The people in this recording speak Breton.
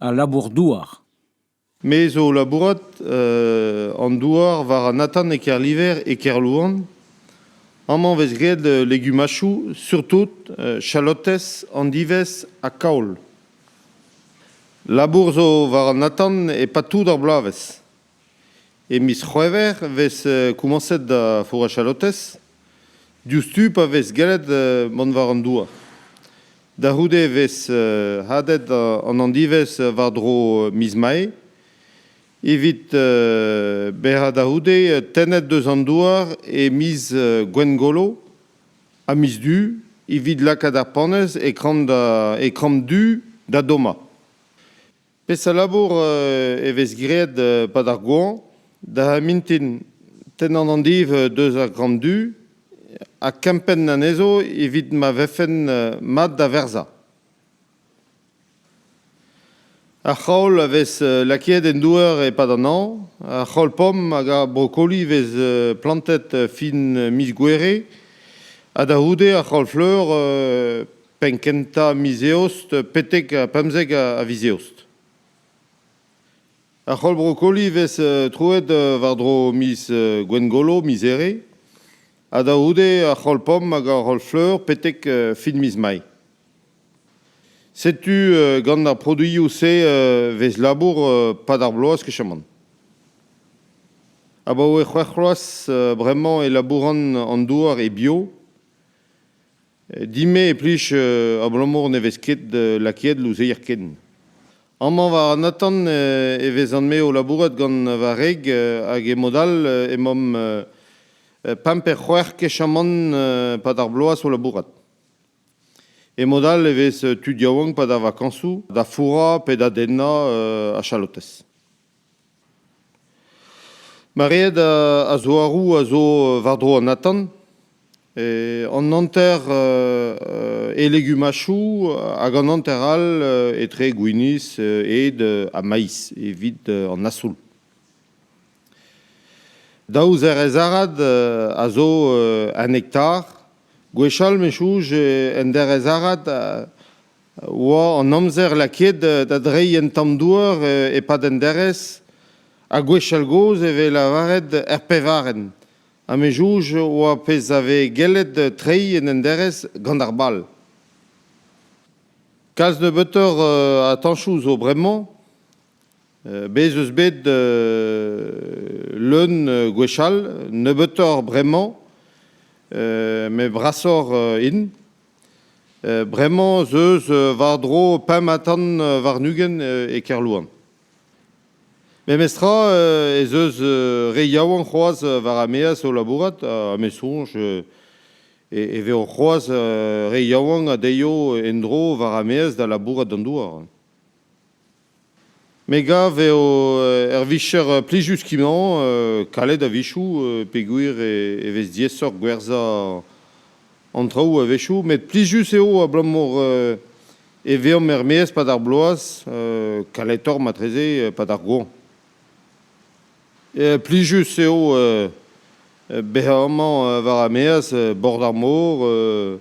Al labour-douar. Me zo o labourat an douar war an atant e Kerliver e Kerlouan. Amañ 'vez graet legumachoù, surtout chalotez, andivez ha kaol. Labour zo war an atant e-pad tout ar bloavezh. E miz C'hwevrer e vez komañset da Fourrach-à-Lotez, diouzhtu pa vez gellet mont war an douar. Da c'houde e vez hadet an handivezh war-dro miz Mae. Evit berrañ da c'houde, tennet deus an douar e miz Gwengolo ha miz Du evit lakaat ar panez e kramp du da dommañ. Peseurt labour e vez graet e-pad ar goañv? Da mintin tennan an div deus ar gramm du ha kempenn anezho evit ma vefen mat da verzañ. Ar c'haol a vez lakaet en douar e-pad an hañv. Ar c'haol-pomm hag ar brokoli vez plantet fin miz Gouere. Ha da c'houde ar c'haol-fleur penn-kentañ miz Eost betek pemzek a viz Eost. Ar c'holl brokoli vez troet war-dro miz Gwengolo, miz Here, ha da c'houde ar c'holl pomm hag ar c'holl fleur betek fin miz Mai. Setu gant ar produioù-se vez labour pad ar bloaz kechamant. Abaoe c'hwec'h bloaz bremañ e labouran an douar e bio. Din-me e plij abalamour ne vez ket lakaet louzeier ken. Amañ war an atant e vezan-me o labourat gant va wreg hag e-mod all emaomp pemp pe c'hwec'h kechamant pad ar bloaz o labourat. E-mod all e vez tud yaouank pad ar vakañsoù da fourrañ pe da dennañ a chalotez. Maread a zouaroù a zo war-dro an atan. An hanter e legumachoù hag an hanter all etre gwinizh, ed ha maiz evit an asoul. Daou zerez arad a zo un hektar. Gwechall, me 'chouch, en derez arad oa an amzer lakaet da dreiñ un tamm douar e-pad an derez, ha gwechall-gozh e vez lavaret er pevarenn. Ha me jouj oa pezh a vez gellet treiñ en un derez gant ar bal. Kalz nebeutoc'h a tañsoù zo bremañ. Bez' eus bet leun gwechall, nebeutoc'h bremañ, met brasoc'h int. Bremañ 'z eus war-dro pemp-ha-tan warn-ugent e Kerlouan. Memestra ez eus re yaouank c'hoazh war ar maez o labourat ha me soñj e vezo c'hoazh re yaouank a deio en-dro war ar maez da labourat d'an douar. Me gav eo ur vicher plijus skimañ, kalet a-wechoù peogwir e vez diaesoc'h gwerzhañ an traoù a-wechoù. Met plijus eo abalamour e veomp er-maez 'pad ar bloaz, kaletoc'h matreze 'pad ar goañv. Plijus eo bezañ amañ war ar maez, bord ar mor,